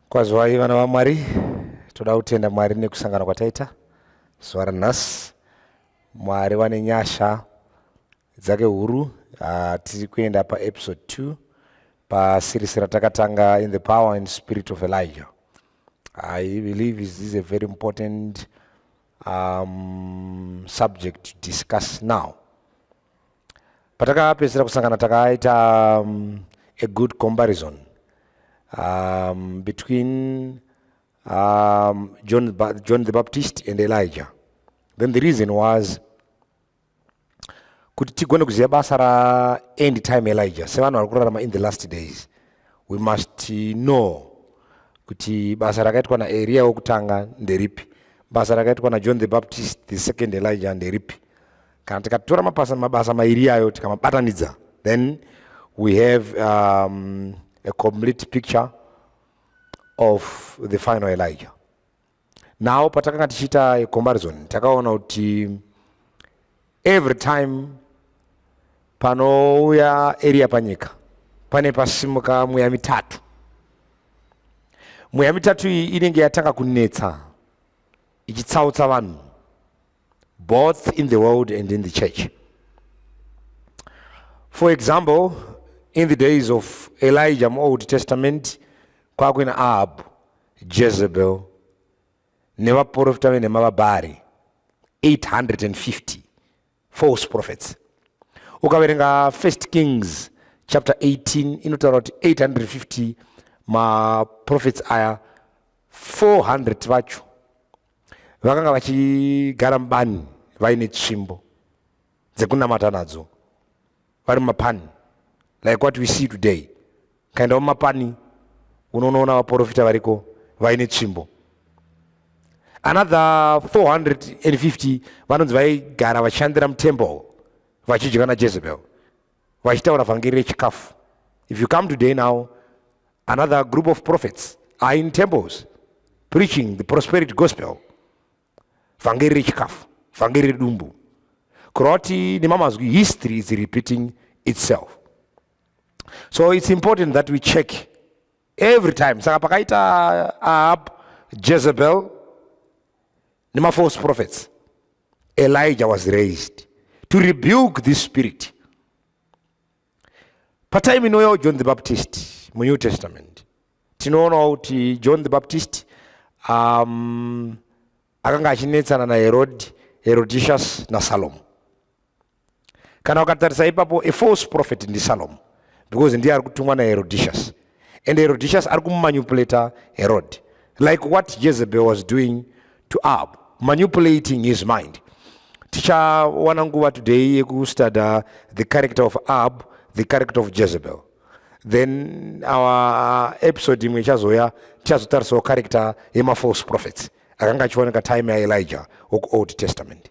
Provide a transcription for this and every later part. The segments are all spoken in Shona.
Kwazwai vana vaMwari, toda kutenda Mwari nekusangana kwataita zuva ranhasi. Mwari vane nyasha dzake huru. Ah, tiri kuenda paepisode 2 paseries ratakatanga in the power and spirit of Elijah. I believe this is a very important um, subject to discuss now. patakapedzisira kusangana takaita um, a good comparison um, between um, John, John the Baptist and Elijah. Then the reason was kuti tigone kuziva basa ra end time Elijah sevanhu vari kurarama in the last days we must know kuti basa rakaitwa naEria wokutanga nderipi basa rakaitwa naJohn the Baptist the second Elijah nderipi kana tikatora mabasa, mabasa mairi iyayo tikamabatanidza then we have um, a complete picture of the final elijah now patakanga tichiita a comparison takaona kuti every time panouya eriya panyika pane pasimuka mweya mitatu mweya mitatu iyi inenge yatanga kunetsa ichitsautsa vanhu both in the world and in the church. For example, in the days of Elijah, Old Testament, kwakuve naAhab, Jezebel, nevaprofita venhema vabhari 850 false prophets ukaverenga first kings chapter 18 inotaura kuti 850 maprofits aya 400 vacho vakanga vachigara mubani vaine tsvimbo dzekunamata nadzo vari mumapani like what we see today kaendawo mumapani unonoona vaprofita variko vaine tsvimbo another 450 vanonzi vaigara vachishandira mutemple vachidya najezebel vachitaura vhangeri rechikafu if you come today now another group of prophets are in temples preaching the prosperity gospel vhangeri rechikafu vhangeri redumbu kureva kuti nemamazwi history is repeating itself so it's important that we check every time saka pakaita ahab jezebel nemafalse prophets elijah was raised to rebuke this spirit patime inouyawo john the baptist munew testament tinoonawo kuti john the baptist um, akanga achinetsana naherodi herodicious nasalomo kana ukatarisa ipapo a false prophet ndisalomo because ndiye ari kutumwa naherodicious and herodicious ari kumanupulator herod like what jezebel was doing to ab manupulating his mind tichawana nguva today yekustudy the character of ab the character of jezebel then our episode imwe ichazouya tichazotarisawo character yemafalse prophets akanga achioneka time yaelija wokuold testament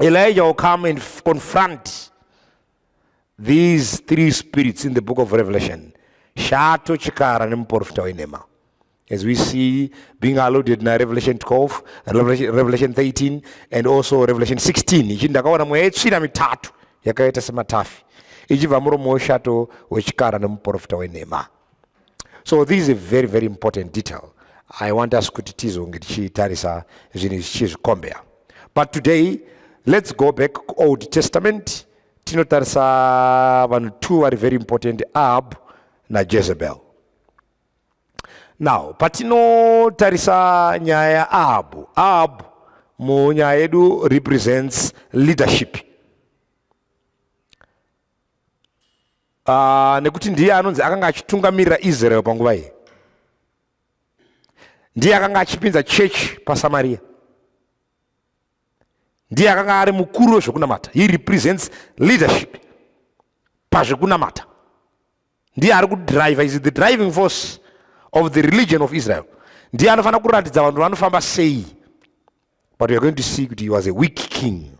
Elijah will come and confront these three spirits in the book of Revelation. Shato, Chikara, and Mporfta Enema. As we see being alluded in Revelation 12, Revelation, Revelation 13, and also Revelation 16. Ichi ndakaona mweya yetsvina mitatu yakaita sematafi ichibva muromo weshato wechikara nemuporofita wenhema. so this is a very very important detail i want us kuti tizonge tichitarisa zvinhu zvichizvikombeya but today let's go back old testament tinotarisa vanhu two vari very important ahab najezebel now patinotarisa nyaya yaahabhu ahabhu munyaya yedu represents leadership uh, nekuti ndiye anonzi akanga achitungamirira israel panguva iyi ndiye akanga achipinza chechi pasamaria ndiye akanga ari mukuru wezvekunamata he represents leadership pazvekunamata ndiye ari kudriver is the driving force of the religion of israel ndiye anofanira kuratidza vanhu vanofamba sei but weare going to see kuti he was a weak king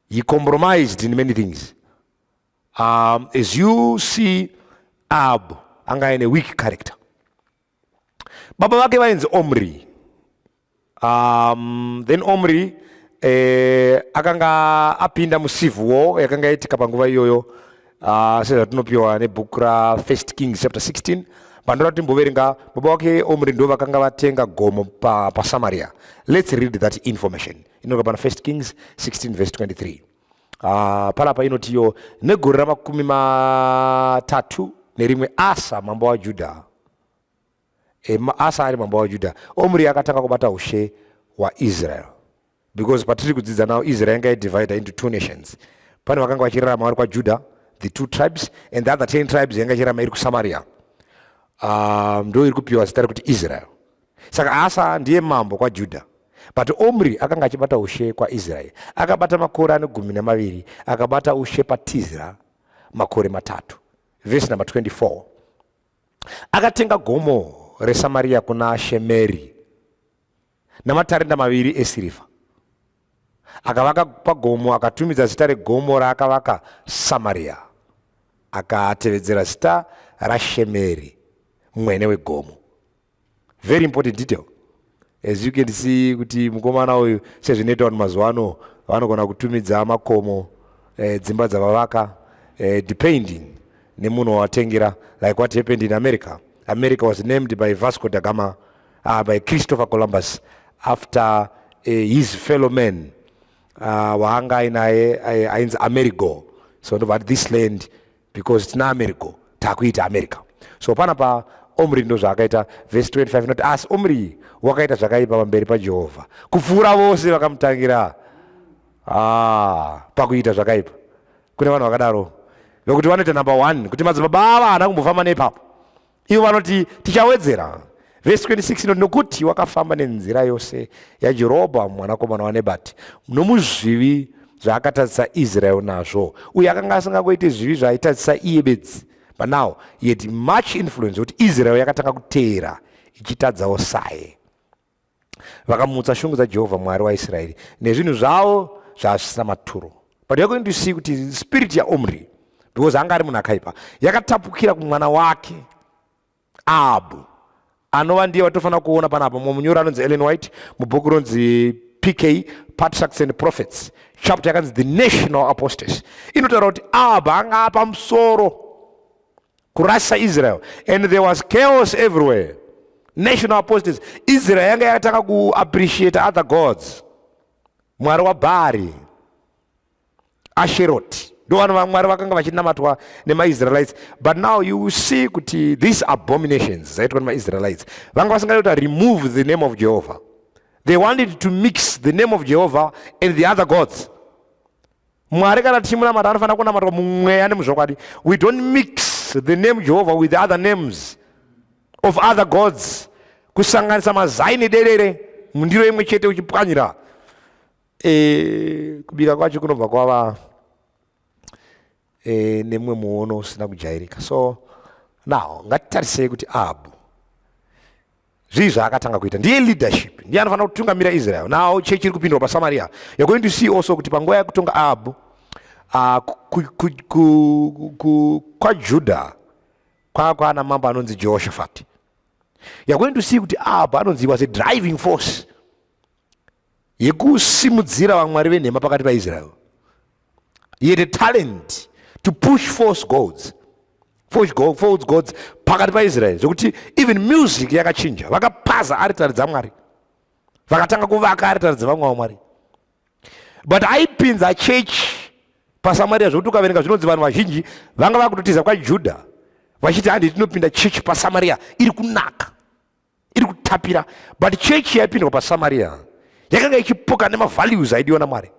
He compromised in many things. Um, as you see, Ab anga aine weak character. Baba vake vainzi Omri. Um, then Omri eh, akanga apinda mucivil war yakanga yaitika panguva iyoyo uh, ah, sezvatinopiwa nebhuku ra First Kings chapter 16 pandora timboverenga baba wake Omri ndo vakanga vatenga gomo pa, pa Samaria. Let's read that information. inoka pana first kings 16 vese 23 uh, panapa inotiyo negore ramakumi matatu nerimwe asa mambo wajuda e, asa ari mambo wajuda omri akatanga kubata ushe hwaisrael because patiri kudzidza nawo israel yanga yadivida into two nations pane vakanga vachirarama vari kwajuda the two tribes and the other ten tribes yanga ichirarama iri kusamaria um, ndo iri kupiwa zita rekuti israel Saka Asa ndiye mambo kwaJudha, but Omri akanga achibata ushe kwaIsraeri. Akabata makore ane gumi namaviri, akabata ushe paTizra makore matatu. Vhesi namba 24 akatenga gomo reSamaria kuna Shemeri namatarenda maviri esirivha akavaka pagomo akatumidza zita regomo raakavaka samaria akatevedzera zita rashemeri mwene wegomo very important detail as you can see kuti mukomana uyu sezvinoita vanhu mazuva ano vanogona kutumidza makomo eh, dzimba dzavavaka eh, depending nemunhu wawatengera like what happened in america america was named by vasco da gama uh, by christopher columbus after uh, his fellow man uh, waanga ainaye ainzi amerigo so ndobva this land because tina america takuita america so pana pa omri ndo zvaakaita vhesi 25 inoti asi omri wakaita zvakaipa pamberi pajehovha kupfuura vose vakamutangira ah, pakuita zvakaipa kune vanhu vakadaro vekuti vanoita number one kuti madzibaba ava haana kumbofamba neipapo Ivo vanoti tichawedzera. Vhesi 26 inoti nokuti wakafamba nenzira yose yaJerobhoamu mwanakomana waNebati nomuzvivi zvaakatadzisa Israeri nazvo uye akanga asingangoite zvivi zvaaitadzisa iye bedzi but now he had much influence kuti Israeri yakatanga kuteera ichitadzawo saye. vakamutsa shungu dzajehovha mwari waisraeri nezvinhu zvavo zvaasvisira maturo but you're going to see kuti spirit yaomri because anga ari munhu akaipa yakatapukira kumwana wake abu anova ndiye vatofanira kuona panapa mumwe munyori anonzi ellen white mubhuku ronzi pk patriarchs and prophets chapter yakanzi the national apostasy inotaura kuti abu anga apamusoro kurasa Israel and there was chaos everywhere national apostates Israel yanga yakatanga kuappreciate other gods mwari waBhaari Asheroti ndovana vamwari vakanga vachinamatwa nemaisraelites but now you see kuti these abominations dzaitwa nemaisraelites vanga vasingadi kuti remove the name of jehovah they wanted to mix the name of jehovah and the other gods mwari kana tichimunamata anofanira kunamatwa mumweya nemuzvokwadi we don't mix the name jehovha with the other names of other gods kusanganisa mazai nederere mundiro imwe chete uchipwanyira e, kubika kwacho kunobva kwava e, nemumwe muono usina kujairika so now ngatitarisei kuti ahabhu zvii zvaakatanga kuita ndiye leadership ndiye anofanira kutungamira israel now chechi iri kupindwa pasamaria you're going to see also kuti panguva yekutonga ahabhu ah, kwajuda kwava kwaana mambo anonzi jehoshafati you're going to see kuti ahabhu anonzi was a driving force yekusimudzira vamwari venhema pakati paisrael he had a talent to push false gods false gods pakati paisrael zvekuti even music yakachinja vakapaza aritari dzamwari vakatanga kuvaka aritari dzevamwe vamwari but aipinza chechi pasamaria zvekuti ukaverenga zvinonzi vanhu vazhinji vanga vakutotiza kwajudha vachiti handi tinopinda chechi pasamaria iri kunaka iri kutapira but chechi yaipindwa pasamaria yakanga ichipoka nemavalues aidiwa namwari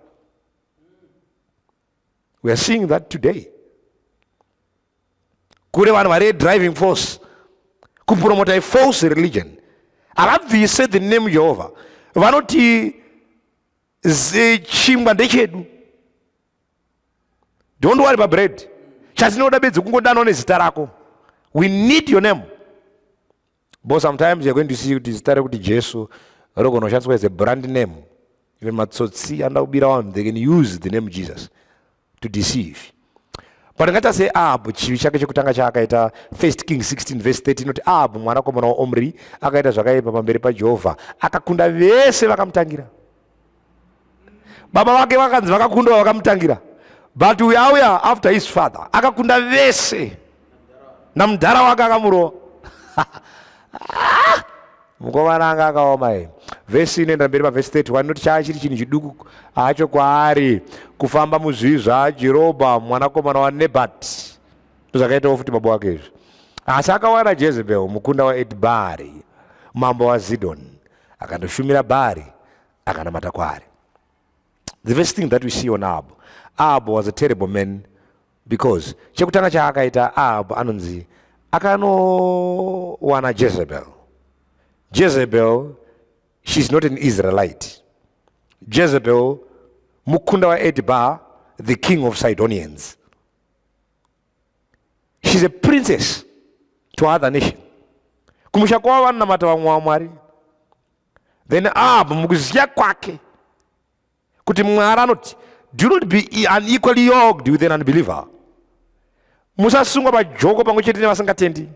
weare seeing that today kure vanhu vari driving force kupromota ifalse religion havabvise the name jehovha vanoti chingwa ndechedu don't worry pabread chatinoda bedzi kungodanwa nezita rako we need your name Bo sometimes you're going to see kuti zita rekuti Jesu rogona kushandiswa as a brand name. Even matsotsi anoda kubira vanhu they can use the name Jesus to deceive. But ngata se Ahabu chivi chake chekutanga chaakaita 1 King 16 verse 13 inoti Ahabu mwanakomana waOmri akaita zvakaipa pamberi paJehovha akakunda vese vakamutangira. Baba vake vakanzi vakakundwa vakamutangira but uyu auya after his father akakunda vese namudhara wake akamurova ah! mukomana anga akaoma ye vhesi inoenda mberi pavhesi 3 wanoti chaa chiri chinhu chiduku hacho kwaari kufamba muzvii zvajerobha mwanakomana wanebat ndozvakaitawo futi baba wake izvi asi akawana jezebel mukunda waedbari mambo wazidoni akandoshumira bhaari akanamata kwaari the first thing that we see on ahab ahab was a terrible man because chekutanga chaakaita ahab anonzi akanowana jezebel jezebel she's not an israelite jezebel mukunda waedba the king of sidonians she's a princess to other nation kumusha kwavo vanonamata vamwe vamwari then abva mukuziva kwake kuti mwari anoti do not be unequally yoked with an unbeliever musasungwa pajoko pamwe chete nevasingatendi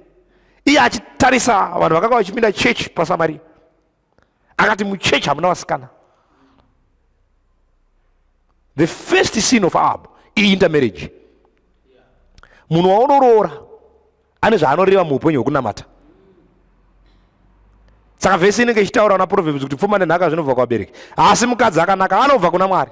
iye achitarisa vanhu vakanga vachipinda chechi pasamaria akati muchechi hamuna vasikana the first scene of ab iintermarriage munhu waunoroora ane zvaanoreva muupenyu hwekunamata saka vhesi inenge ichitaura na proverbs kuti pfuma nenhaka zvinobva kuvabereki asi mukadzi akanaka anobva kuna mwari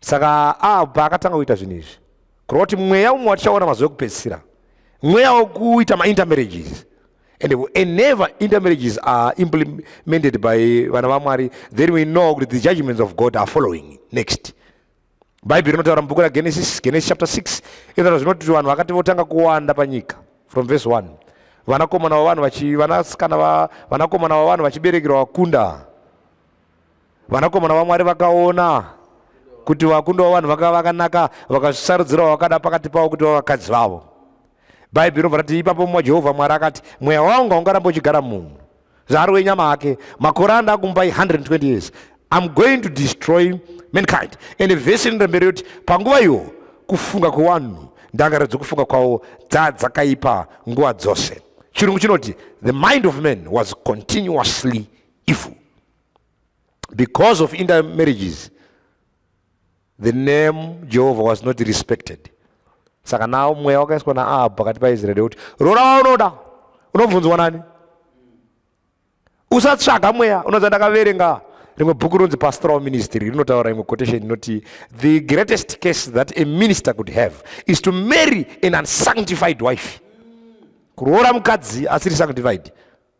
saka abva ah, akatanga kuita zvinhu izvi kureva kuti mweya umwe watichaona mazuva ekupedzisira mweya wekuita maintermarriages and enever intermarriages are implemented by vana vamwari then we know kuti the judgments of god are following next bhaibheri rinotaura mubhuku ragenesis genesis chapter 6 inotaura zvinoti kuti vanhu vakati votanga kuwanda panyika from verse 1 vanakomana vavanhu vanasikana vanakomana vavanhu vachiberekerwa vakunda vanakomana vamwari vakaona kuti vakundwa vanhu vakava vakanaka vakazvisarudzirawo vakada pakati pavo kuti vavakadzi vavo bhaibheri rinobva rati ipapo mumwe jehovha mwari akati mweya wangu haungaramba uchigara munhu zvaari wenyama ake makore anda akumupai 120 years iam going to destroy mankind ende vhesi rinoenda mberi yoti panguva iyo kufunga kwewanhu ndangaro dzekufunga kwavo dzaa dzakaipa nguva dzose chirungu chinoti the mind of man was continuously evil because of intermarriages the name jehovah was not respected saka nawo mweya wakaiswa naahabhu pakati paisraeri kuti roora waunoda unobvunzwa nani usatsvaga mweya unonzi ndakaverenga rimwe bhuku rinonzi pastoral ministry rinotaura imwe quotation inoti the greatest case that a minister could have is to marry an unsanctified wife kuroora mukadzi asiri sanctified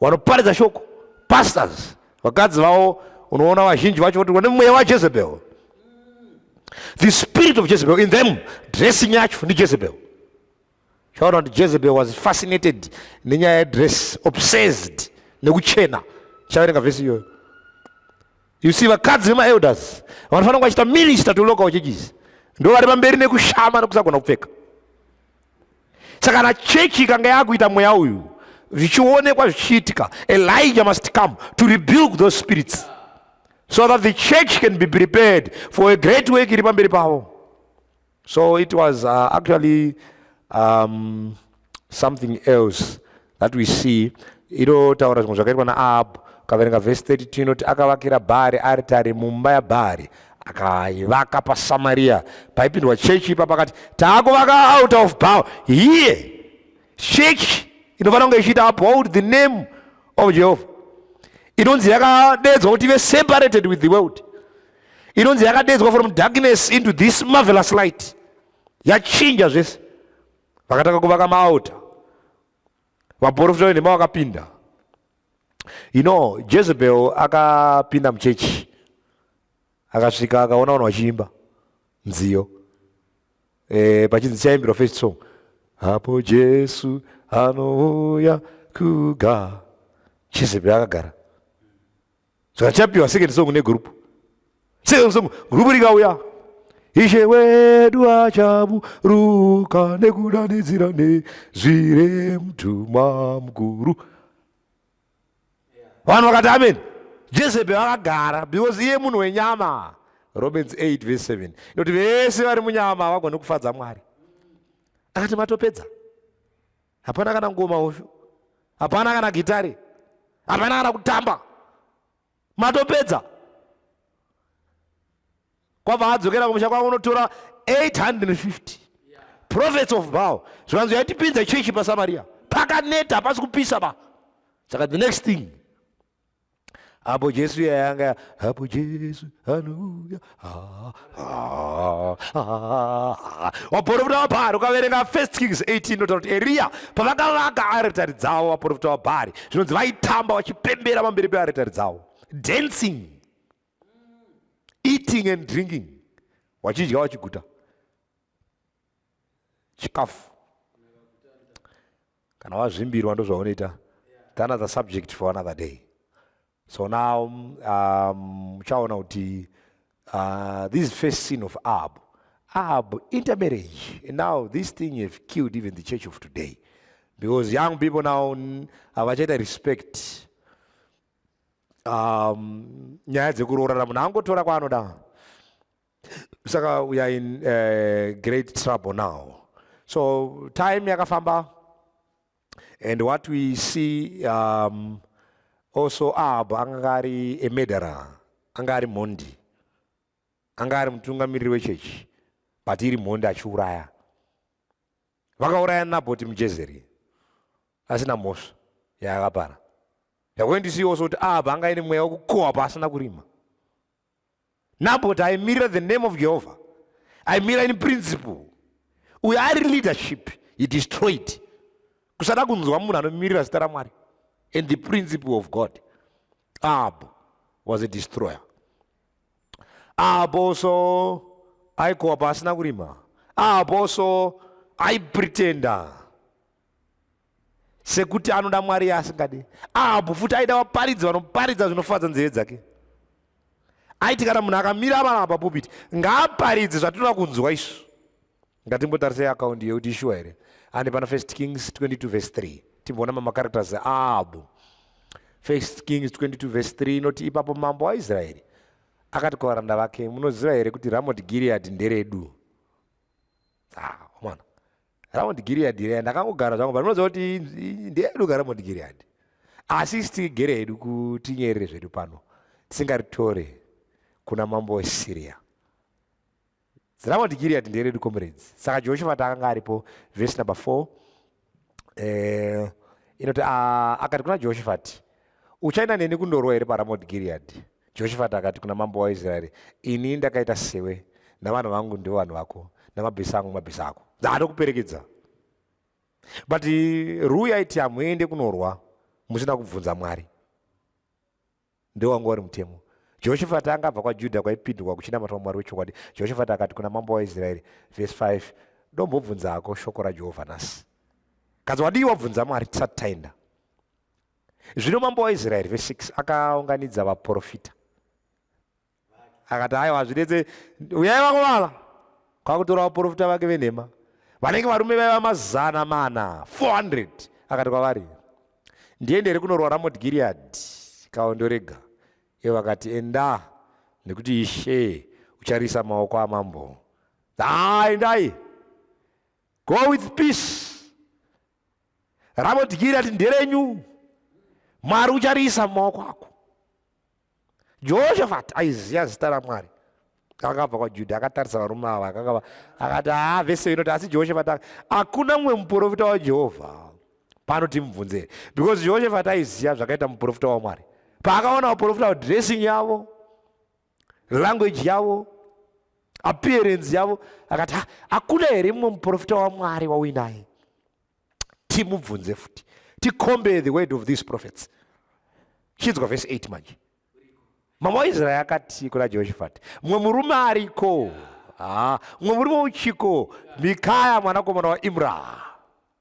wanoparidza shoko pastors vakadzi vavo unoona vazhinji vacho voti vane mweya wajezebel the spirit of jezebel in them dressing yacho ndijezebel chaona kuti jezebel was fascinated nenyaya yedress obsessed nekuchena chaverenga vhesi iyoyo you see vakadzi vemaelders vanofanira kunge vachiita minister to local churches ndo vari pamberi nekushama nekusagona kupfeka saka kana chechi ikanga yakuita mweya uyu zvichionekwa zvichiitika elijah must come to rebuke those spirits so that the church can be prepared for a great work iri pamberi pavo so it was uh, actually um, something else that we see inotaura zvimwe zvakaitwa naahabhu ukaverenga vhesi 32 inoti akavakira bhaari aritari mumba yabhaari akaivaka pasamariya paipindwa chechi ipa pakati taakuvaka out of bow here chechi inofanira kunge ichiita uphold the name of jehovha inonzi yakadedzwa kuti ive separated with the world inonzi yakadedzwa from darkness into this marvelous light yachinja zvese vakatanga kuvaka maalta vaprofita venhema vakapinda you know jezebel akapinda muchechi akasvika akaona vanhu vachiimba nziyo e, pachinzi chaimbirwa first song apo jesu anouya kuga jezebel akagara saka chapiwa second song negroup second song group rikauya ishe wedu achaburuka nekudanidzira nezvire mtumwa mukuru vanhu vakati amen jezebe vakagara because iye munhu wenyama romans 8 vese 7 inoti vese vari munyama havagoni kufadza mwari akati matopedza hapana kana ngoma hosho hapana kana gitare hapana kana kutamba matopedza kwabva adzokera kumusha kwavo unotora 850 prophets of bow zvikanzi yaitipinza chechi pasamaria pakaneta hapasi kupisa ba saka the next thing apo jesu yayanga apo jesu haleluya waporofita wabhari ukaverenga first kings 18 inotaura kuti eriya pavakavaka aritari dzavo vaporofita wabhari zvinonzi vaitamba vachipembera pamberi pearitari dzavo dancing eating and drinking wachidya wachiguta chikafu kana wazvimbirwa ndozvaunoita the another subject for another day so now um, uchaona um, kuti uh, this first scene of ab ab intermarriage and now this thing have killed even the church of today because young people now havachaita respect um, nyaya dzekuroorana munhu angotora kwaanoda saka we are in uh, great trouble now so time yakafamba and what we see um, also ahab anga ari a murderer anga ari mhondi anga ari mutungamiriri wechechi but iri mhondi achiuraya vakauraya nabhoti mujezeri asina mhosva yaakapara yakuendisiwo so kuti ahab anga ine mweya wekukohwa paasina kurima Nabot aimirira the name of Jehovah, aimira in principle. Uyo ari leadership, he destroyed. Kusada kunzwa munhu anomirira zita raMwari and the principle of God. Ahab was a destroyer. Ahab also aikowa pasina kurima. Ahab also aipretender. sekuti anoda mwari yaasingadi ahabhu futi aida vaparidzi vanoparidza zvinofadza nzeve dzake aiti kana munhu akamira avanaa papupiti ngaaparidze zvatinoda kunzwa isu ngatimbotarisei akaundi yekuti ishuwa here ande pana first kings 22 vese 3 timboona mamacaracters aahabhu first kings 22 vese 3 inoti ipapo mambo waisraeri akati kuvaranda vake munoziva here kuti ramoti giriadhi nderedu ah, mwana ramount giread reya ndakangogara zvangu but unoziva kuti ndeedu ka ramount giread asi isi tigere hedu kutinyerere zvedu pano tisingaritore kuna mambo wesiriya ramount giread nderedu comrades saka jehoshafati akanga aripo vese number four eh, inoti ah, akati kuna jehoshafati Uchaenda neni kundorwa here paRamoti Giriadhi? Joshafati akati kuna mambo waIsraeri, Ini ndakaita sewe, navanhu vangu ndivo vanhu vako, namabhiza angu mabhiza ako. Ndaatokuperekedza. But Rui aiti hamuende kunorwa musina kubvunza Mwari. Ndiwo wanga wari mutemo. Joshafati anga abva kwaJudha kwaipindwa kuchinamatwa Mwari wechokwadi. Joshafati akati kuna mambo waIsraeri, vhesi 5, Ndombobvunzako shoko raJehovha nhasi. Kanzi wadii wabvunza Mwari tisati taenda? zvino mambo waisraeri ve 6 akaunganidza vaprofita akati aiwa hazvinetse uyai vakuvala kwakutora vaprofita vake venhema vanenge varume vaiva mazana mana 400 akati kwavari ndiende here kunorwa ramot giriadhi kaondorega ivo vakati enda nekuti ishe ucharisa maoko amambo endai go with peace ravo dhiki rati nderenyu mwari uchariisa mumaoko ako jehoshafati aiziva zita ramwari akabva kwajudha akatarisa varume ava akakava akati haa vese inoti asi jehoshafati hakuna mumwe muprofita wajehovha pano timubvunzere because jehoshafati aiziva zvakaita muprofita wamwari paakaona vaprofita vadressing yavo language yavo appearance yavo akati hakuna here mumwe muprofita wamwari wauinaye timubvunze futi ticombare the word of these prophets chinzwa vhesi 8 manje mama waisraeri akati kuna jehoshafati mumwe murume ariko mumwe murume uchiko mikaya mwanakomana waimra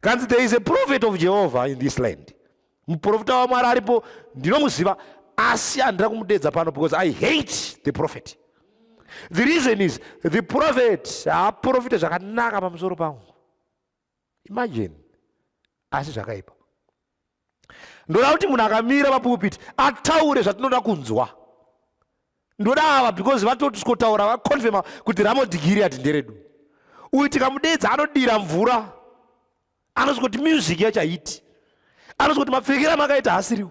kanzi there is a prophet of jehovah in this land muprofita wamwari aripo ndinomuziva asi handina kumudeedza pano because i hate the prophet the reason is the prophet haaprofite zvakanaka pamusoro pangu imagine asi zvakaipa ndoda kuti munhu akamira papulpiti ataure zvatinoda kunzwa ndoda ava because vatoti tikotaura vaconfirma kuti ramodhigiri ati nderedu uyu tikamudeedza anodira mvura anozi kuti music yachaiti anozi kuti mapfekera makaita hasiriwo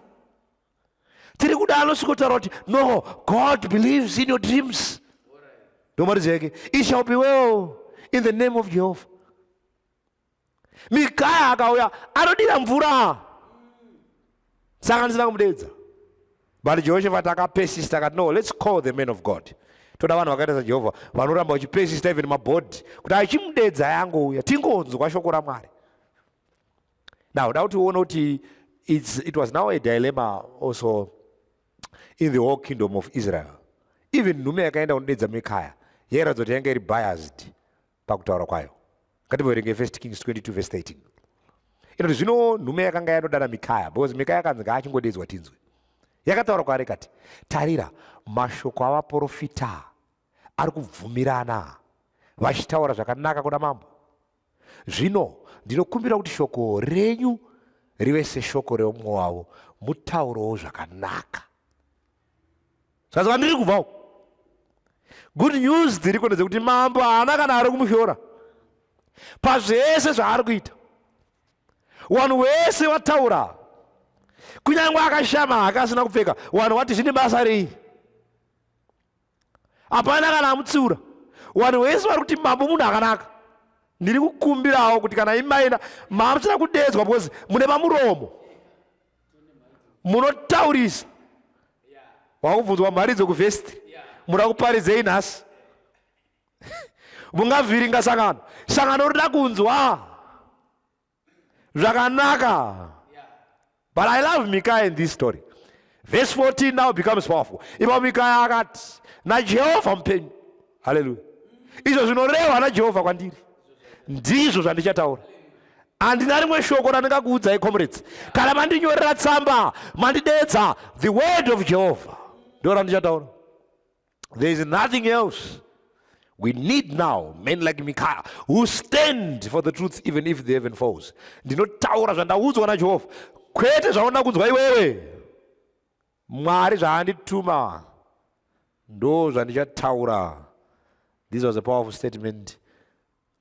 tiri kuda anosvikotaura kuti no god believes in your dreams ndomaridzeke it shall be well in the name of jehovah mikaya akauya anodira mvura saka handisina kumudeedza but jehoshafati akapesista akati no let's call the man of god toda vanhu vakaita sajehovha vanoramba vachipesista even mabhodhi kuti achimudeedza yangouya tingonzwa shoko ramwari now da kuti uone kuti it was now a dilemma also in the whole kingdom of israel even nhume yakaenda kunodeedza mikaya yairatidza kuti yanga iri biased pakutaura kwayo ngatimboverenge first kings 22 vese 13 inoti zvino nhume yakanga yanodana mikaya because mikaya akanzi ngaachingodeedzwa tinzwe yakataura kwaari kati tarira mashoko avaprofita ari kubvumirana vachitaura zvakanaka kuna mambo zvino ndinokumbira kuti shoko renyu rive seshoko reumwe wavo mutaurowo zvakanaka saka ndiri kubvawo good news dziriko ndedzekuti mambo haana kana ari kumushora pazvese zvaari kuita wanhu wese wataura kunyange akashama hake asina kupfeka wanhu wati zvine basa rei hapana kana amutsiura wanhu wese vari kuti mambo munhu akanaka ndiri kukumbirawo kuti kana imaina maamuchina kudedzwa because mune mamuromo munotaurisa wakubvunzwa mhari dzokuvhesti muda kuparidzei nhasi mungavhiringa sangano sangano rida kunzwa zvakanaka but i love mikaya in this story verse 14 now becomes powerful ipa mikaya akati najehovha mupenyu haleluya izvo zvinorehwa najehovha kwandiri ndizvo zvandichataura handina rimwe shoko randingakuudzai comrades kana mandinyorera tsamba mandidedza the word of jehovha ndo randichataura there is nothing else we need now men like mikaya who stand for the truth even if the heaven falls ndinotaura zvandaudzwa najehovha kwete zvaunda kunzwa iwewe Mwari zvaandituma ndo zvandichataura. This was a powerful statement.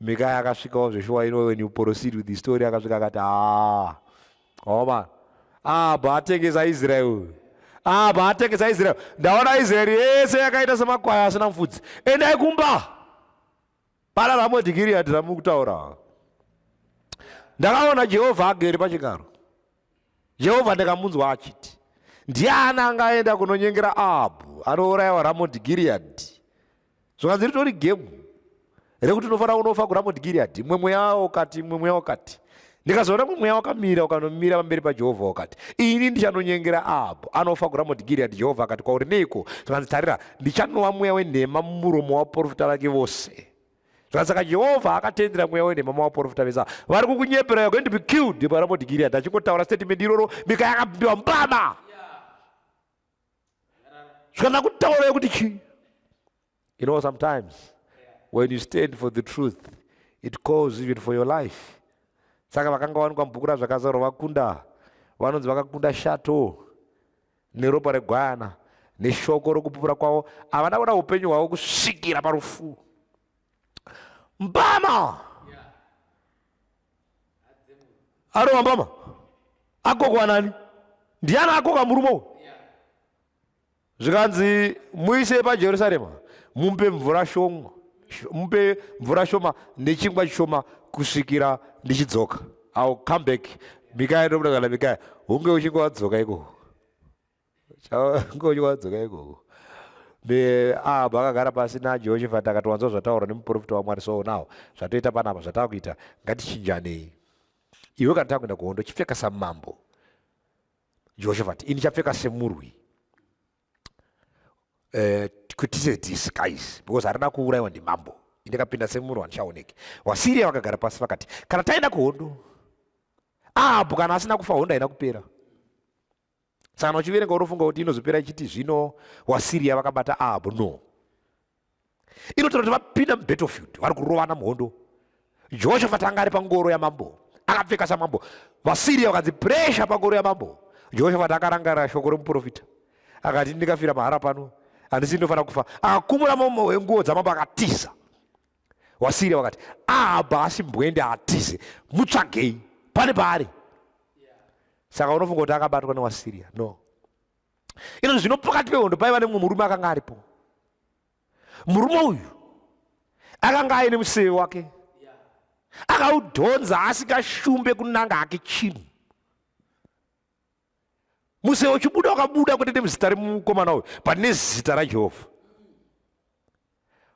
Mikaya akasvikawo zveshuwa ino when you proceed with the story akasvika akati haa homa abva atengesa Israel abva atengesa Israel ndaona Israel yese yakaita semakwai asina mfudzi endai kumba Pana Ramoti Gireadhi ramuri kutaura. Ndakaona Jehovha agere pachigaro. Jehovha ndakamunzwa achiti, ndiani angaenda kunonyengera Ahabhu anourayiwa Ramoti Gireadhi? Zvikanzi ritori gemu rekuti unofanira kunofa kuRamoti Gireadhi, imwe mweya ukati, imwe mweya ukati. ndikazoona kuti mweya wakamira ukanomira pamberi pajehovha wakati ini ndichanonyengera abo anofa kuramoti giriadi jehovha akati kwauri neiko zvikanzi tarira ndichanova mweya wenhema mumuromo waporofita vake vose zvikanzi saka jehovha akatendera mweya wenhema muvaporofita vese vari kukunyepera you're going to be killed paramoti giriadi achingotaura statement iroro mika yakabimbiwa mbama zvikanza kutaura yekuti chii You know, sometimes when you stand for the truth, it calls even for your life. Saka vakanga wanikwa mubhuku razvakazarwa vakunda, vanonzi vakakunda shato neropa regwana neshoko rokupupura kwavo, havana kuda upenyu hwavo kusvikira parufu. Mbama arova mbama akokwa nani? Ndiani akoka murume uyu? zvikanzi muise pajerusarema mupe mvura shoma mupe mvura shoma nechingwa chishoma kusvikira ndichidzoka ill come back mikaya ndobuda kana mikaya hunge uchinge wadzoka ikoko hunge uchinge wadzoka ikoko ahabha akagara pasi najehoshafati akati wanzwa zvataurwa nemuprofita wamwari so now zvatoita panapa zvatava kuita ngatichinjanei iwe kana tava kuenda kuhondo chipfeka samambo Jehoshafati, ini chapfeka semurwi eh, kwetise disguise because harina kuurayiwa ndimambo ndikapinda semurwi handichaoneki vasiria vakagara pasi vakati kana taenda kuhondo ahabhu kana asina kufa hondo haina kupera saka uchiverenga unofunga kuti inozopera ichiti zvino wasiria vakabata ahabhu no inotaura kuti vapinda mubattlefield vari kurovana muhondo jehoshafati anga ari pangoro yamambo akapfeka samambo vasiriya vakanzi presha pangoro yamambo jehoshafati akarangarira shoko remuprofita akati ndikafira mahara pano handisi ndinofanira kufa akakumura mambo wenguo dzamambo akatiza wasiriya vakati ahaba asi mbwende atize mutsvagei pane paari saka unofunga kuti akabatwa newasiriya no ino zvino pakati pehondo paiva nemumwe murume akanga aripo murume uyu akanga aine museve wake akaudhonza asikashumbe kunanga hake chinhu museve uchibuda wakabuda kutete muzita remukomana uyu pane zita rajehovha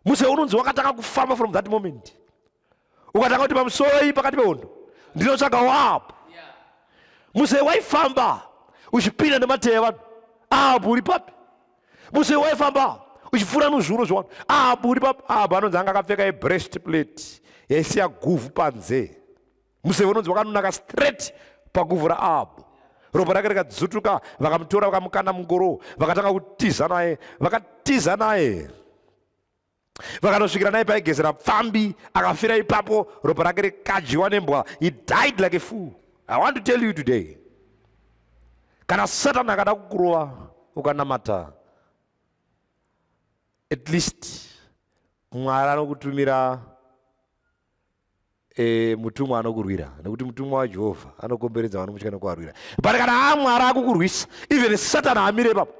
muse unonzi wakatanga kufamba from that moment ukatanga kuti pamusoi pakati pehondo ndinotsvaga wapo muse waifamba uchipinda nemateya vanhu apo uri papi muse waifamba uchipfuura nuzvuro zvevanhu apo uri papi apo anonzi anga akapfeka yebrest plate yaisiya guvhu panzee museve unonzi wakanonaka straight pakuvhura abo ropa rake rikadzutuka vakamutora vakamukanda mungoro vakatanga kutiza naye vakatiza naye vakanosvikira naye paigezera pfambi akafira ipapo ropa rake rikadyiwa nembwa he died like a fool i want to tell you today kana satani akada kukurova ukanamata at least mwari anokutumira e, mutumwa anokurwira nekuti mutumwa wajehovha anokomberedza vanomutya nekuvarwira but kana amwari akukurwisa even satani amire ipapo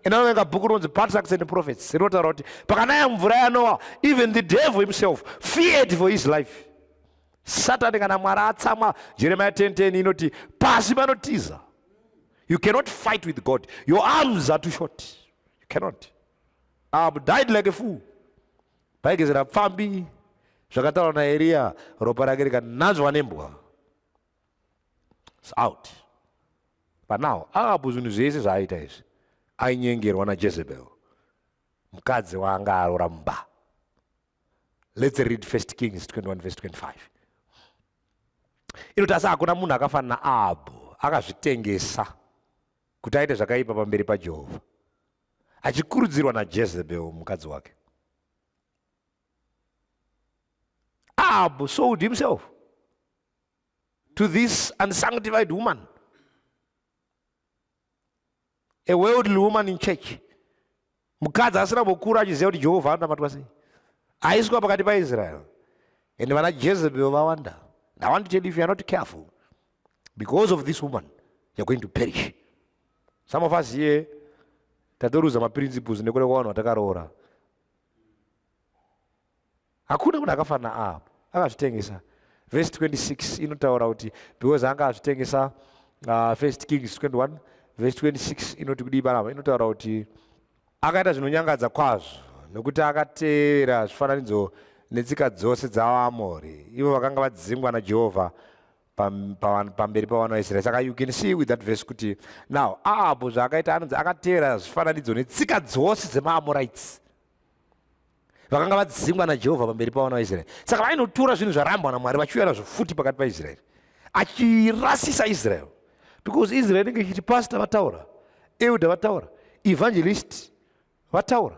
inovenga bhuku rinonzi patriarchs and prophets rinotaura kuti pakanaya mvura yanowa even the devil himself feared for his life satani kana mwari atsamwa jeremiya 1010 inoti pasi panotiza you cannot fight with god your arms are too short you cannot i have died like a fool Paigezera pfambi zvakataurwa naEriya ropa rake rikananzvwa nembwa. It's out. But now Ahabu zvinhu zvese zvaaita izvi ainyengerwa naJezebel mukadzi waanga arora mumba. Let's read 1 Kings 21 verse 25. Inoti asi hakuna munhu akafanana Ahabu akazvitengesa kuti aite zvakaipa pamberi paJehovha achikurudzirwa najezebel mukadzi wake ahab sold himself to this unsanctified woman a worldly woman in church mukadzi asina kukura achiziva kuti jehovha anonamatwa sei aiswa pakati paisrael and vana jezebel vawanda i want to tell you if youare not careful because of this woman you're going to perish some of us here tatoruza maprinciples nekuda kwavanhu vatakaroora hakuna munhu akafanira apo akazvitengesa vhesi 26 inotaura kuti because anga azvitengesa uh, first kings 21 vhesi 26 inoti kudii panapa inotaura kuti akaita zvinonyangadza kwazvo nokuti akatevera zvifananidzo netsika dzose dzavaamori ivo vakanga vadzingwa najehovha pamberi pavana vaisraeri saka you can see with that verse kuti now ahabhu zvaakaita anonzi akatevera zvifananidzo netsika dzose dzemaamorites vakanga vadzingwa najehovha pamberi pavana vaisraeri saka vainotora zvinhu zvarambwa namwari vachiuya nazvo futi pakati paisraeri achirasisa israel because israel inenge ichiti pastor vataura elder vataura evangelist vataura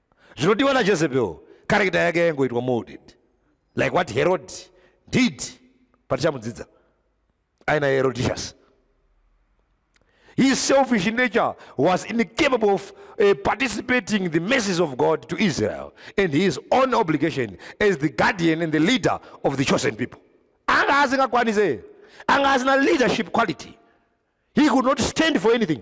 Zvinodiwa na Jezebel, character yake yaingoitwa molded like what Herod did patichamudzidza aina Herodias. His selfish nature was incapable of uh, participating in the mercies of God to Israel and his own obligation as the guardian and the leader of the chosen people. Anga asingakwanise, anga asina leadership quality. He could not stand for anything.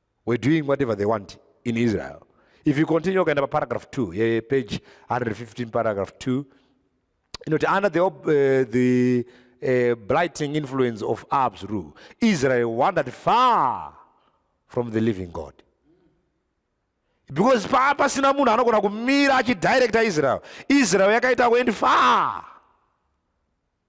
were doing whatever they want in Israel. If you continue ukaenda paragraph 2 yeah, page 115 paragraph 2 inoti under the, uh, the uh, blighting influence of Ab's rule Israel wandered far from the living God because paa pasina munhu anogona kumira achidirecta Israel Israel yakaita kuend far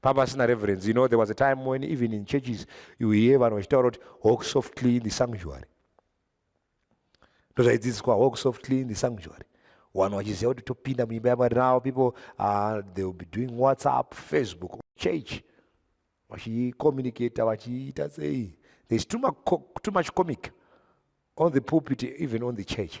pamba pasina reverence you know there was a time when even in churches you hear vanhu vachitaura kuti walk softly in the sanctuary ndozvaidzidziswa walk softly in the sanctuary vanhu vachiziva kuti topinda muimba yamwari now people uh, they will be doing whatsapp facebook church vachicommunicata vachiita sei there's too much, too much comic on the pulpit even on the church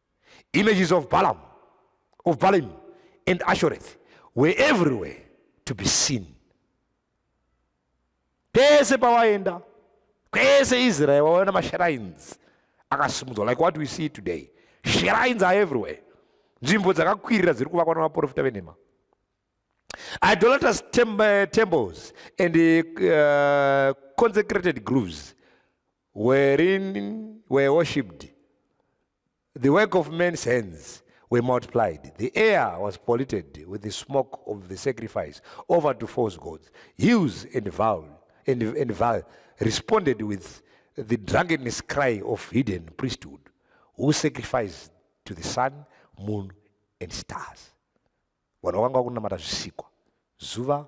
Images of Balaam, of Balaam and Ashoreth were everywhere to be seen. Pese pawaenda, kwese Israel waona mashrines akasimudzwa like what we see today. Shrines are everywhere. Nzvimbo dzakakwirira dziri kuvakwa navaprofita venhema. Idolatrous tem eh, temples and uh, consecrated groves wherein were worshipped, the work of men's hands were multiplied. The air was polluted with the smoke of the sacrifice over to false gods. Hills and vale, and, and vale responded with the drunkenness cry of hidden priesthood, who sacrificed to the sun, moon, and stars. vanhu vakanga vakunamata zvisikwa zuva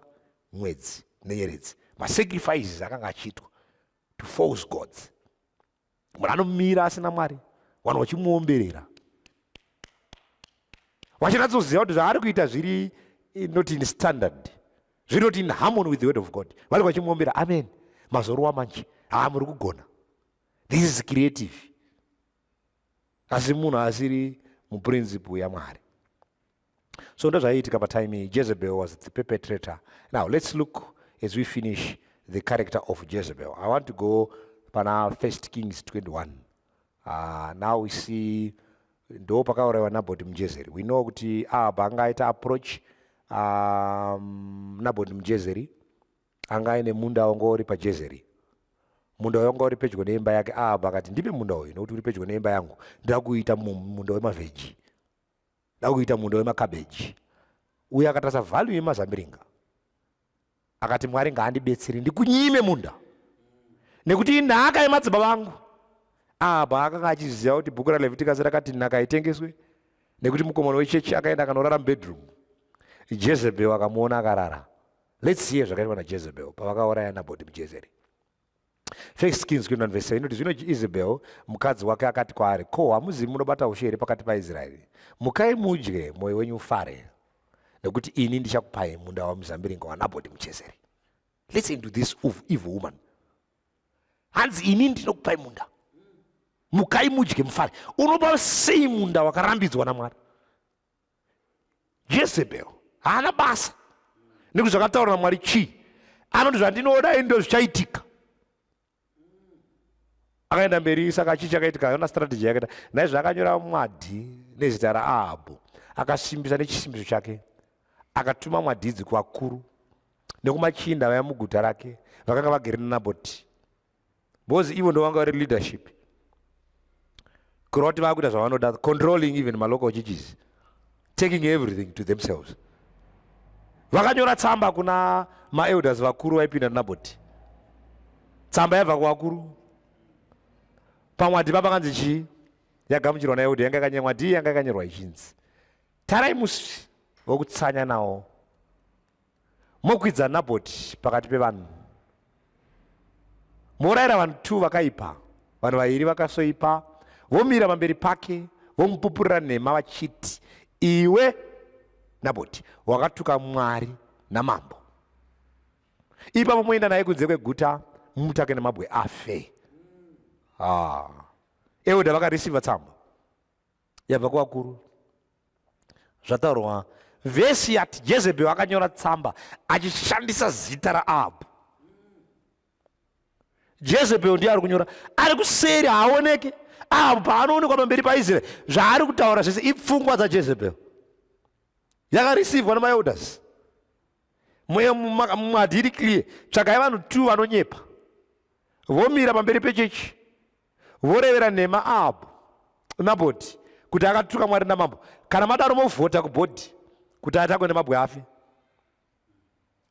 mwedzi nenyeredzi masacrifices akanga achiitwa to false gods munhu anomira asina mwari vanhu vachimuomberera vachinatsoziva kuti zvaari kuita zviri eh, not in standard zviri not in harmony with the word of god vari vachimuombera amen mazorowa manje haa muri kugona this is creative asi munhu asiri muprinciple yamwari so ndozvaiitika patime iyi jezebel was the perpetrator now let's look as we finish the character of jezebel i want to go pana first kings 21 uh, ah, now we see ndo pakaurayiwa nabhoti mujezeri we know kuti ahab anga aita approach um, nabhoti mujezeri anga aine munda wanga uri pajezeri munda wanga uri pedyo neimba yake ahab akati ndipe munda uyu nokuti uri pedyo neimba yangu ndakuita munda wemavheji ndakuita munda wemakabeji uye akatarisa value yemazambiringa akati mwari ngaandibetsere ndikunyime munda nekuti inhaka yemadzibaba vangu apa akanga achiziva kuti bhuku ralevitikas rakati nhaka haitengeswe nekuti mukomana wechechi akaenda akanorara mubedroom jezebel akamuona akarara lets see zvakaitwa najezebel pavakauraya nabhoti mujezeri First Kings kuenda verse 7 inoti zvino Isabel mukadzi wake akati kwaari, ko hamuzivi munobata ushe here pakati paIsraeri? Mukai mudye, mwoyo wenyu ufare, nekuti ini ndichakupai munda wamuzambiringa waNabhoti muJezeri. Listen to this evil woman. Hanzi ini ndinokupai munda, mukai mudye mufare. Unopa sei munda wakarambidzwa naMwari? jezebel haana basa nekuti zvakataura namwari chii anoti zvandinoda indo zvichaitika akaenda mberi saka chii chakaitika yona strategy yakaita naizvo akanyora mwadhi nezita raahabhu akasimbisa nechisimbiso chake akatuma mwadhidzi kuvakuru nekumachinda vaya muguta rake vakanga vagere nanaboti because ivo ndovanga vari leadership kureva kuti vakuita zvavanoda controlling even malocal churches taking everything to themselves vakanyora tsamba kuna maelders vakuru vaipinda naboti tsamba yabva kuvakuru pamwe hadipa pakanzi chii yagamuchirwa naelder yanga yakanyenwa dii yanga yakanyorwa ichinzi tarai musi vokutsanya nawo Mokwidza Nabhoti pakati pevanhu, morayira vanhu two vakaipa, vanhu vaviri vakasoipa, vomira pamberi pake vomupupurira nhema vachiti, iwe Nabhoti wakatuka Mwari namambo, ipapo moenda naye kunze kweguta mumutake nemabwe afe. Ah. Euda vakarisiva tsamba yabva kuvakuru zvataurwa vhesi yati jezebheri akanyora tsamba achishandisa zita raahabhu jezebheri ndiye ari kunyora ari kuseri haaoneke ahabhu paanoonekwa pamberi paisraeri zvaari kutaura zvese ipfungwa dzajezebheri yakarisivwa nemaelders mweya mumadhiri clear tsvakai vanhu two vanonyepa vomira pamberi pechechi vorevera nhema abo nabhodhi kuti akatuka mwari namambo kana madaro movhota kubhodhi kuti atakwe nemabwe afe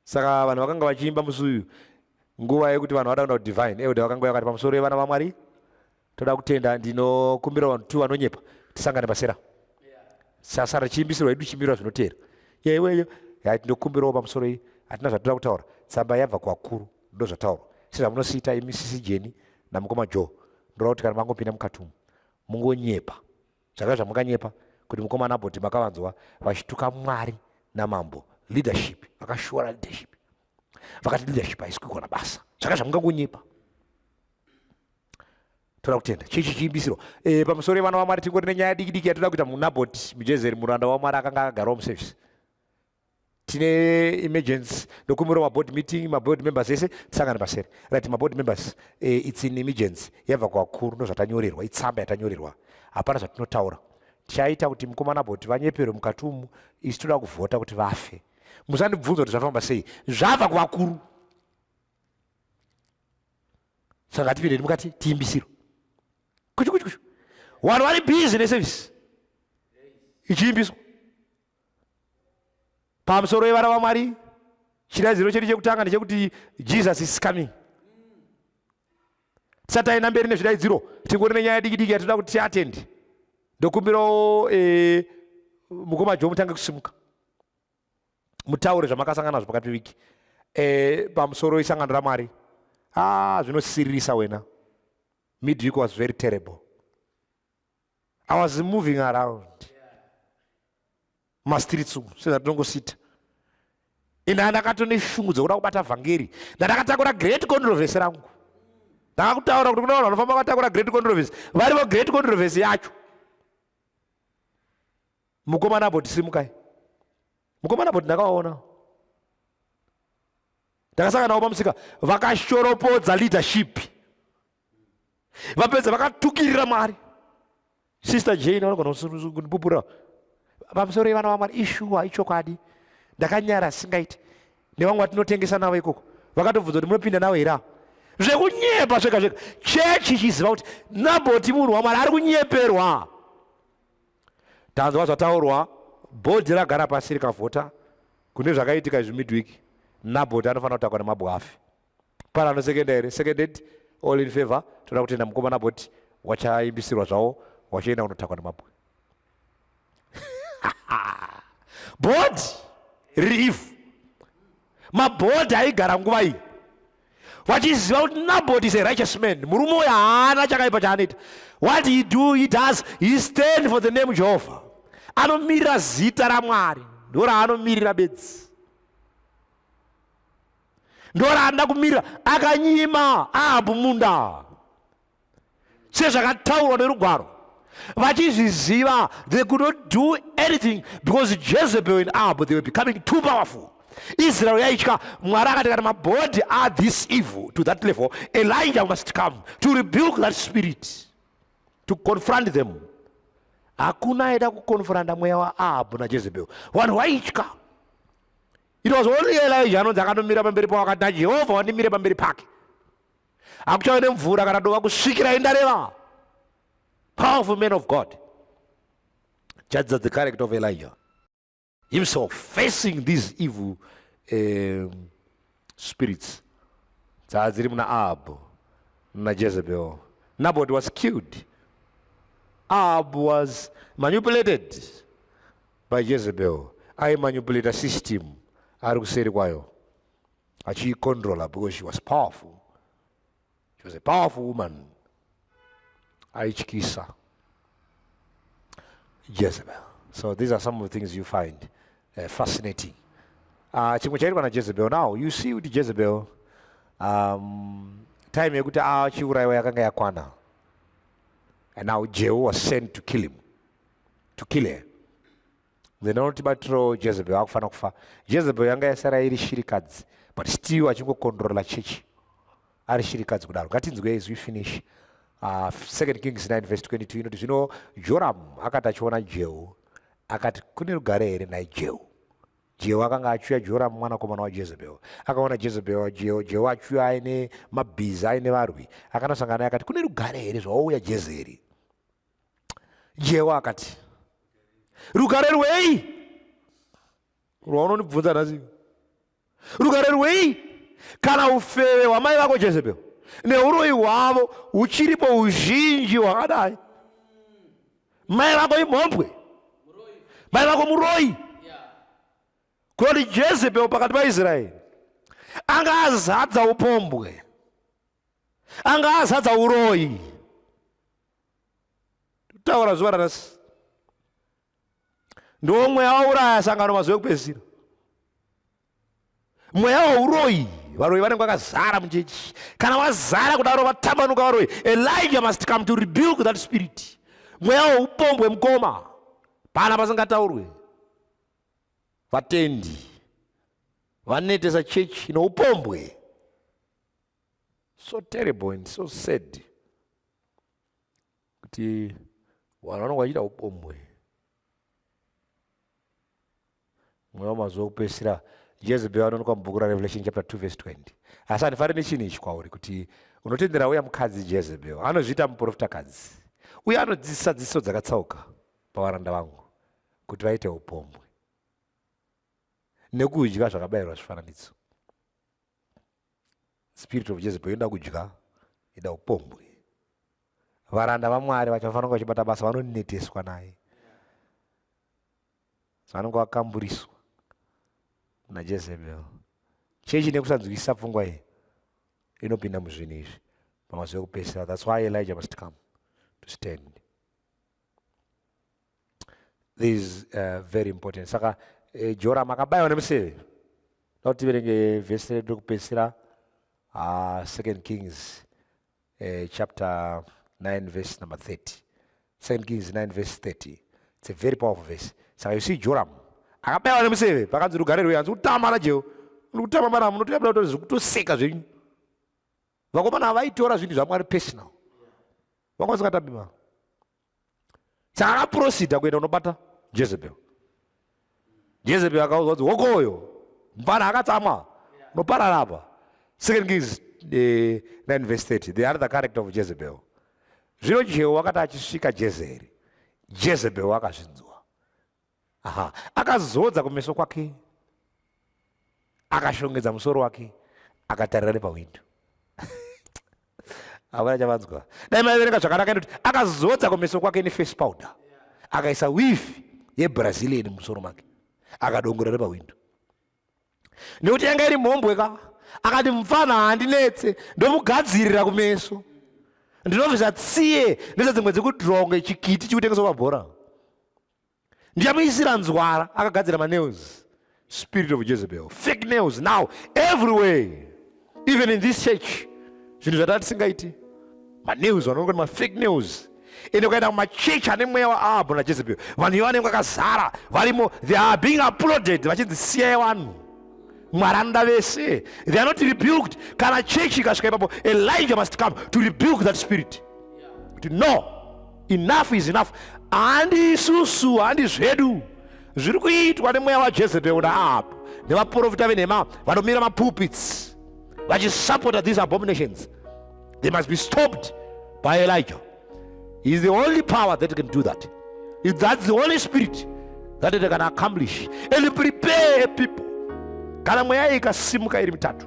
saka vanhu vakanga vachiimba musi uyu nguva yekuti vanhu vada kuenda kudivine euda vakanga vakati pamusoro yevana vamwari toda kutenda ndinokumbira vanhu tu vanonyepa tisangane pasera sasa richiimbisirwa idu chimbirwa zvinoteera yeweyo yati ndokumbirawo pamusoro iyi hatina zvatoda kutaura tsamba yabva kuvakuru ndozvataurwa sezvamunosiita imi sisi jeni namukoma joe ndoda kuti kana mangopinda mukati umu mungonyepa zvaka zvamunganyepa kuti mukoma naboti makavanzwa vachituka mwari namambo leadership vakashora leadership vakati leadership haisi kuigona basa zvaka zvamungangonyepa toda kutenda chii chichiimbisirwa eh, pamusoro yevana vamwari tingori nenyaya diki diki yatoda kuita munaboti mujezeri muranda wamwari akanga akagarawo muservice tine emergency ndokumbirawo maboard meeting maboard members ese tisangane masere right maboard members eh, its in emergency yabva kuvakuru ndozvatanyorerwa itsamba yatanyorerwa hapana zvatinotaura tichaita kuti mukomana boti vanyeperwe mukati umu isi toda kuvhota kuti vafe musandibvunza kuti zvafamba sei zvabva kuvakuru saka ngatipindeni mukati tiimbisiro kuchu kuchu kuchu vanhu vari busy neservice ichiimbiswa pamusoro wevana vamwari chiradziro chedu chekutanga ndechekuti jesus is coming tisati aenda mberi nezvidaidziro tingori nenyaya yadikidiki yatinoda kuti tiatendi ndokumbirawo eh, mukoma jo mutange kusimuka mutaure zvamakasangana nazvo pakati peviki eh, pamusoro isangano ramwari ah, zvinosiririsa wena midweek was very terrible I was moving around mastreets umu sezvatinongosita ende andakato neshungu dzekuda kubata vhangeri ndandakatakura great controversy rangu ndakakutaura kuti kune vanhu vanofamba vatakura great controversy varivo great controversy yacho mukomana apo tisimukai mukomana apo tindakawaona ndakasangana navo pamusika vakashoropodza leadership vapedza vakatukirira mwari sister jane vanogona kundipupura pamusoro yevana vamwari ishuwa ichokwadi ndakanyara singaiti nevamwe vatinotengesa navo ikoko vakatobvunza kuti munopinda navo here avo zvekunyepa zvega zvega chechi ichiziva kuti nabhoti munhu wamwari ari kunyeperwa tanzwa zvataurwa bhodhi ragara pasi rikavhota kune zvakaitika izvi midwiki nabhoti anofanira kutakwa nemabwafi Pane anosekenda here? Seconded. All in favor. Toda kutenda mukomana boti wachaimbisirwa zvawo wachienda kunotakwa nemabwe. Body relief. Mabhodhi aigara nguva iyi vachiziva kuti nabot is a righteous man murume uyo haana chakaipa chaanoita what he do he does he stand for the name jehovha anomirira zita ramwari ndo raanomirira bedzi ndoraanda kumirira akanyima ahabhu munda sezvakataurwa nerugwaro vachizviziva they could not do anything because jezebel and ahabhu they were becoming too powerful israel yaitya mwari akati kana mabody are this evil to that level elijah must come to rebuke that spirit to confront them hakuna aida kukonfranta mweya waahabhu najezebel vanhu vaitya It was only Elijah anonzi akanomira pamberi pawakati naJehovha wandimire pamberi pake. Hakuchave nemvura kana dova kusvikira indareva. Powerful man of God. Judge the character of Elijah. Himself facing these evil um, spirits. Dzaa dziri muna Ahab naJezebel. Naboth was killed. Ahab was manipulated. By Jezebel aimanipulata system ari kuseri kwayo achiicontrola because she was powerful she was a powerful woman aityisa jezebel so these are some of the things you find uh, fascinating uh, chimwe chaitwa najezebel now you see kuti jezebel um, time yekuti achiurayiwa ah, yakanga yakwana and now jehu was sent to kill him to kill her then anoti batiro jezebel akufanira kufa jezebel yanga yasara iri shirikadzi but still achingokondorola chechi ari shirikadzi kudaro ngatinzwe as we finish uh, second kings 9 verse 22 inoti zvino joramu akati achiona jehu akati kune rugare here nhai jehu jehu akanga achiuya joramu mwanakomana wajezebel akaona jezebel jehu jehu achiuya aine mabhiza aine varwi akanosangana naye akati kune rugare here zvawauya jezeri jewa akati rugare rwei rwaunondibvunza nhasi rugare rwei kana ufeve hwamai vako jezebel neuroyi hwavo huchiripo uzhinji hwakadai mai vako imhombwe mai vako muroyi koti jezebel pakati paisraeri anga azadza upombwe anga azadza uroyi totaura zuva ranasi ndiwo mweya wauraya sangano mazuva ekupedzisira mweya wauroyi varoyi vanenge vakazara muchechi kana vazara kudaro vatambanuka varoyi elijah must come to rebuild that spirit mweya weupombwe mukoma pana pasingataurwe vatendi vanetesa chechi noupombwe so terrible and so sad kuti vanhu vanonga vachiita upombwe mweya wamazuva kupesira jezebel anoonekwa mubhuku rarevelation chapter 2 verse 20 asi handifanire nechinhu ichi kwauri kuti unotendera uya mukadzi jezebel anozviita muprofitakadzi uye anodzidzisa dzidziso dzakatsauka pavaranda vangu kuti vaite upombwe nekudya zvakabayirwa zvifananidzo spirit of jezebel inoda kudya ida upombwe varanda vamwari vacho vafanira kunge vachibata basa vanoneteswa naye vanonge vakamburiswa najezebel chechi nekusanzwisisa pfungwa iyi inopinda muzvinhu izvi pamazuva ekupesera thats why elijah must come to stand this is uh, very important saka eh, jora makabayiwa nemuseve da kuti tiverenge vhesi redu rekupedzisira uh, second kings uh, chapter 9 verse number 30 second kings 9 verse 30 it's a very powerful verse saka you see joram akabayiwa nemuseve pakanzi rugare rwuya anzi kutama najehu uri kutama maramu notoyabda kutoseka zvenyu vakomana vaitora zvinhu zvamwari personal vanga vasingatambi mari saka akaprosida kuenda unobata jezebel jezebel akaudzwa kuti hokoyo mfana akatsamwa unoparara apa second kings 9 eh, verse 30 the other character of jezebel zvino jehu wakati achisvika jezeri jezebel akazvinzwa aha akazodza kumeso kwake akashongedza musoro wake akatarira nepahwindo havana chavanzwa dai maiverenga zvakanaka inoti akazodza kumeso kwake neface powder akaisa wifi yebrazilian mumusoro make akadongora nepahwindo nekuti yanga iri mhombwe ka akati mupfana handinetse ndomugadzirira kumeso ndinobvisa tsiye ndese dzimwe dzekudronga chikiti chikutengeswa pabhora ndichamuisira nzwara akagadzira manails spirit of jezebel fake nails now everywhere even in this church zvinhu zvataa tisingaiti manews vanonga kuti mafake news ende ukaenda kumachechi ane mweya waahabhu najezebel vanhu iyo vanenge vakazara varimo they are being uploaded vachinzi siyai vanhu mwari anoda vese they are not rebuked kana chechi ikasvika ipapo elijah must come to rebuke that spirit kuti no Enough is enough. Handi isusu, handi zvedu. Zviri kuitwa nemweya waJezebel naapo nevaprofita venhema vanomira mapulpits vachisupporta these abominations. They must be stopped by Elijah. He is the only power that can do that. It's that's the only spirit that they can accomplish and prepare people. Kana mweya ikasimuka iri mitatu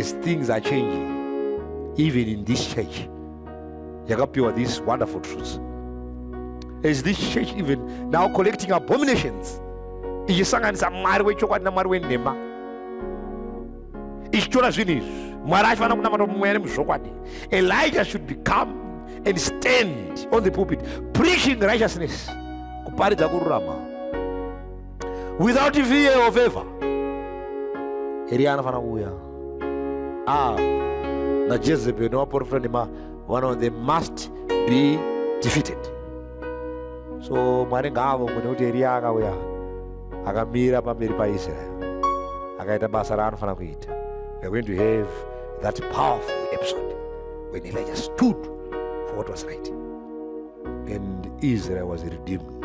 as things are changing even in this church yakapiwa this wonderful truth as this church even now collecting abominations ichisanganisa mwari wechokwadi namwari wenhema ichitora zvinhu izvi mwari achifanira kunamata mweya nemuzvokwadi elijah should become and stand on the pulpit preaching righteousness kuparidza kururama without fear or favor eria anofanira kuuya ah najezebel nevaprofita nema vano they must be defeated so mwari ngaavo mune kuti eria akauya akamira pamberi paisrael akaita basa raanofanira kuita weare going to have that powerful episode when elijah stood for what was right and Israel was redeemed.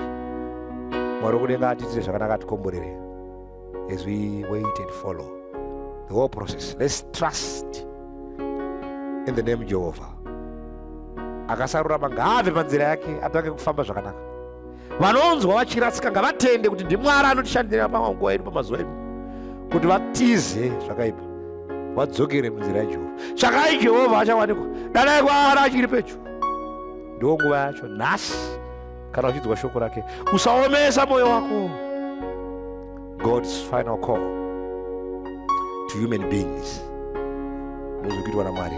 Mwari kudenga atiitire zvakanaka atikomborere as we wait and follow the whole process. Let's trust in the name Jehovah. Akasarurama ngaave panzira yake atange kufamba zvakanaka. Vanonzwa vachiratsika ngavatende kuti ndiMwari anotishandira panguva yedu pamazuva edu kuti vatize zvakaipa vadzokere munzira yaJehovha. Tsvakai Jehovha achawanikwa, danai kwaari achiri pedyo. ndiwo nguva yacho nhasi kana uchinzwa shoko rake usaomesa mwoyo wako god's final call to human beings ndozvikuitwa namwari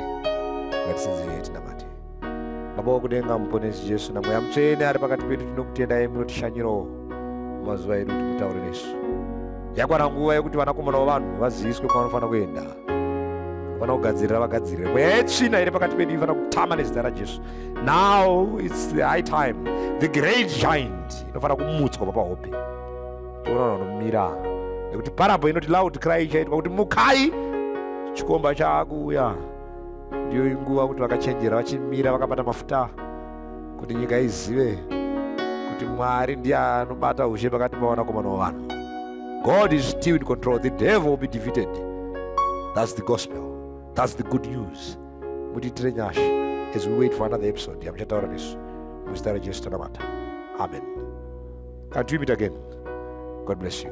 ngatisinzirei tinamate baba wakudenga muponesi jesu namweya mutsvene ari pakati pedu tinokutendai munotishanyirawo mumazuva edu kuti mutaure nesu yakwana nguva yekuti vanakomana vavanhu vaziviswe kwavanofanira kuenda vana kugadzirira vagadzirire mweya yetsvina iri pakati pedu inofanira kutama nezita rajesu now its the high time the great giant inofanira kumutswa papahope tiona vanomira nekuti parabo inoti loud cry ichaitwa kuti mukai chikomba chaakuuya ndiyo inguva kuti vakachenjera vachimira vakabata mafuta kuti nyika izive kuti mwari ndiye anobata ushe pakati pavanakomana vavanhu god is still in control the devil will be defeated thats the gospel thats the good news mutiitire nyasha as we wait for another episode yamuchataura nesu muzita rajesu tanamata amen until we meet again god bless you